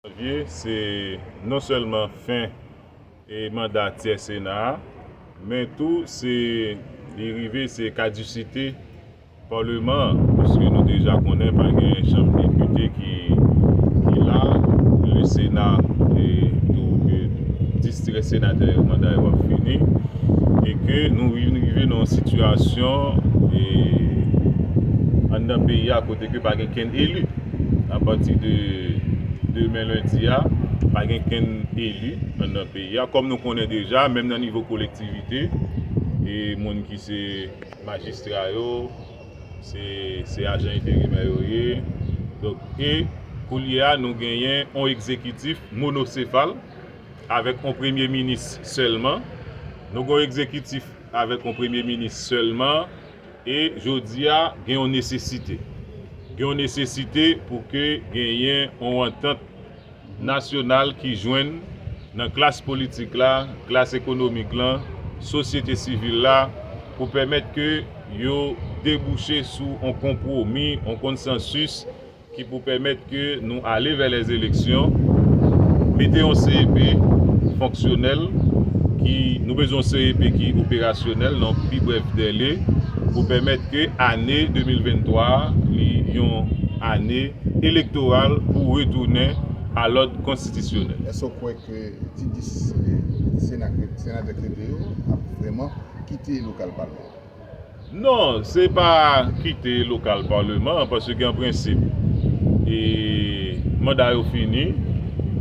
Janvye se non sèlman fen manda tyè sena a, men tou se li rive se kadisite paleman an, pwiske nou deja konnen pa gen chanm depite ki la, le sena tou ke 10 tirè senatè yo manda yo ap fini, e ke nou vin rive nan yon sitiyasyon anndan peyi a kote ke pa gen kenn eli. Apati de demen lendi a, pa gen kenn eli anndan peyi a. Kòm nou konnen deja, menm nan nivo kolektivite, e moun ki se majistra yo, se ajan enterimè yo ye. Donk, e koulye a nou genyen on egzekitif monosefal, avèk on premye minis sèlman. Nou gen on egzekitif avèk on premye minis sèlman. E jodi a, gen yon nesesite. Gen yon nesesite pou ke genyen yon antant nasyonal ki jwenn nan klas politik la, klas ekonomik lan, sosyete sivil la, pou pèmèt ke yo debouche sou yon konpwomi, yon konsansis, ki pou pèmèt ke nou ale vè lè eleksyon, mete yon CEP fonksyonèl, ki, nou bezwen yon CEP ki operasyonèl nan pi brèf dèle, pou pèmèt ke ane 2023 a, li yon ane elektoral pou retounen a lòd konstitisyonèl. Èske w kwè ke ti 10 senatè krete yo ap vrèman kite lokal palman an? Non, se pa kite lokal Paleman an, paske an prensip, e manda yo fini,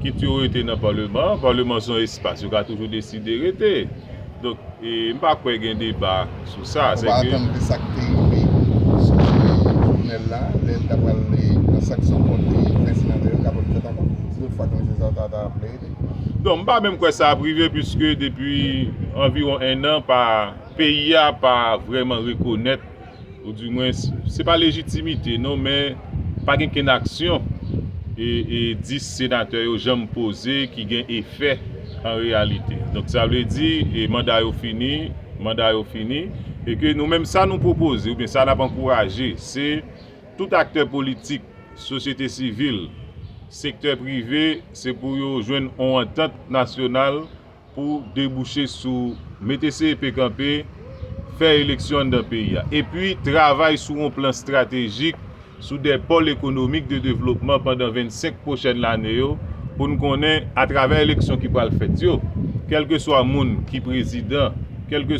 kit yo rete nan Paleman an, Paleman se yon espas yo ka toujou deside rete. Donk, e m pa kwè gen deba sou sa. Nou pa atann de sa k te rive sou Jovenel la, lè l ta pral pran sanksyon kont Prince Inaldo yo, kapon fèt ankò? Se lòt fwa Komisè Zaza ta vle rete. Non, m pa menm kwè sa ap rive, piske depi anviwon ennan pa. Peyi a pa vrèman rekonèt, ou di mwens, se pa lejitimite non, men pa gen kenn aksyon 10 senatè yo janm poze ki gen efè an reyalite. Donk sa vle di manda yo fini, manda yo fini, e ke nou menm sa nou pwopoze oubyen sa n ap ankouraje se tout aktè politik, sosyete sivil, sektè prive se pou yo jwenn on antant nasyonal pou debouche sou mete CEP kanpe, fè eleksyon anndan peyi a, epi travay sou yon plan estratejik sou 2 pòl ekonomik de devlopman pandan 25 pwochèn lane yo, pou n konnen atravè eleksyon ki pral fèt yo, kèlkeswa moun ki prezidan, kèlkeswa.